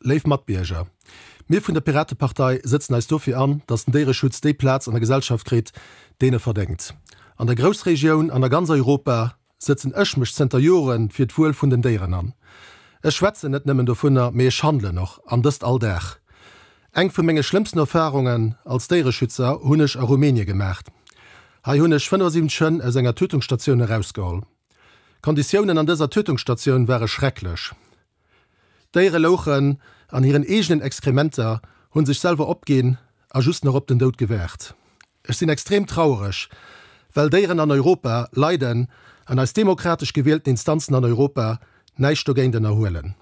Léif Matbierger, mir vun der Piratepartei sëtzen eis dofir an, datt den Déiereschutz déi Plaz an der Gesellschaft kritt, deen e verdéngt. An der Groussregioun an a ganz Europa sëtzen ech mech zënter Jore fir d'Wuel vun den Déieren an. Ech schwätzen net nëmmen dovunner, mee ech handelen och, an dëst all Dag. Eng vu menge schlëmmsten Erfarungen als Déiereschützer hunn ech a Rumänie gemaacht. Hei hunn ech 75 Hënn aus enger Tötungsstatioun erausgeholl. D'Konditiounen an dëser Tötungsstatioun ware schrecklech. D'Déiere louchen an hiren eegenen Exkrementer, hu sech selwer opginn a just nach op den Doud gewaart. Ech sinn extrem trauereg, well Déieren an Europa leiden an eis demokratesch gewielten Instanzen an Europa näischt dogéint ënnerhuelen.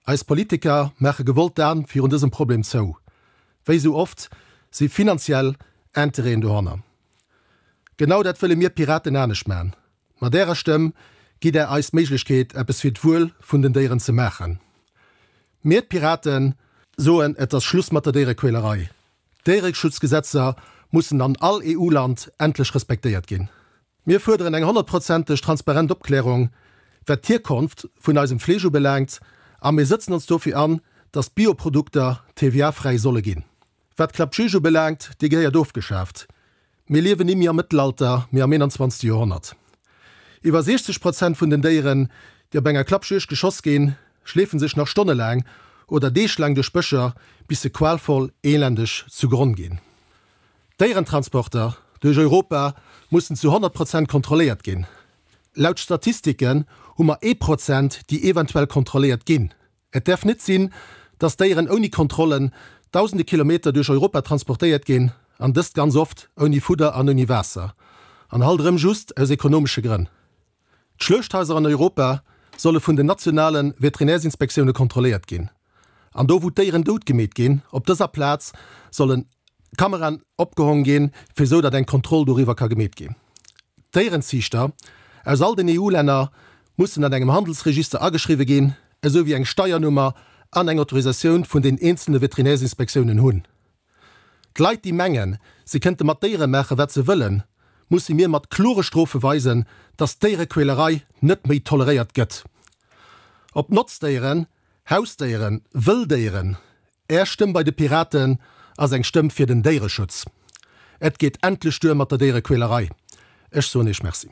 Eis Politiker maache gewollt d'An virun dësem Problem zou. Wéi esou oft si finanziell Intérêten dohanner. Genau dat wëlle mir Piraten anescht man. Mat Ärer Stëmm gitt Där eis d'Méiglechkeet eppes fir d'Wuel vun den Déieren ze maachen. Mir, d'Piraten, soen et ass Schluss mat der Déierequälerei. D'Déiereschutzgesetzer mussen an all EU-Land endlech respektéiert ginn. Mir fuerderen eng honnertprozenteg transparent Opklärung, wat d'Hierkonft vun eisem Fleesch ubelaangt a mir sëtzen ons dofir an, datt d'Bioprodukter TVA-fräi solle ginn. Wat d'Clapjuge ubelaangt, dee gehéiert ofgeschaaft. Mir liewen nimmi am Mëttelalter, mee am 21. Joerhonnert. Iwwer 60 Prozent vun den Déieren, déi op enger Klappjuegd geschoss ginn, schleefe sech nach stonnelaang oder deeglaang duerch Bëscher, bis se qualvoll, elendeg zu Gronn ginn. D'Déierentransporter duerch Europa mussen zu 100 Prozent kontrolléiert ginn. Laut Statistiken hu mer ee Prozent, déi eventuell kontrolléiert ginn. Et däerf net sinn, dass Déieren ouni Kontrollen dausende Kilometer duerch Europa transportéiert ginn, an dëst ganz oft ouni Fudder an ouni Waasser, an halt erëm just aus ekonomesche Grënn. D'Schluechthaiser an Europa solle vun den nationale Veterinärsinspektioune kontrolléiert ginn. An do, wou d'Déieren dout gemeet ginn, op dëser Plaz sollen Kameraen opgehong ginn, fir esou datt eng Kontroll doriwwer ka gemeet ginn. D'Déierenziichter aus all den EU-Länner mussen an engem Handelsregister ageschriwwe ginn, esou wéi eng Steiernummer an eng Autorisatioun vun den eenzele Veterinärsinspektiounen hunn. D'Leit déi mengen, se kënnte mat Déiere maache wat se wëllen, musse mir mat klore Strofe weisen, datt d'Déierequälerei net méi toleréiert gëtt. Ob Notzdéieren, Hausdéieren, Wëlldéieren, Är Stëmm bei de Piraten ass eng Stëmm fir den Déiereschutz. Et geet endlech duer mat der Déierequälerei. Ech soen Iech Merci.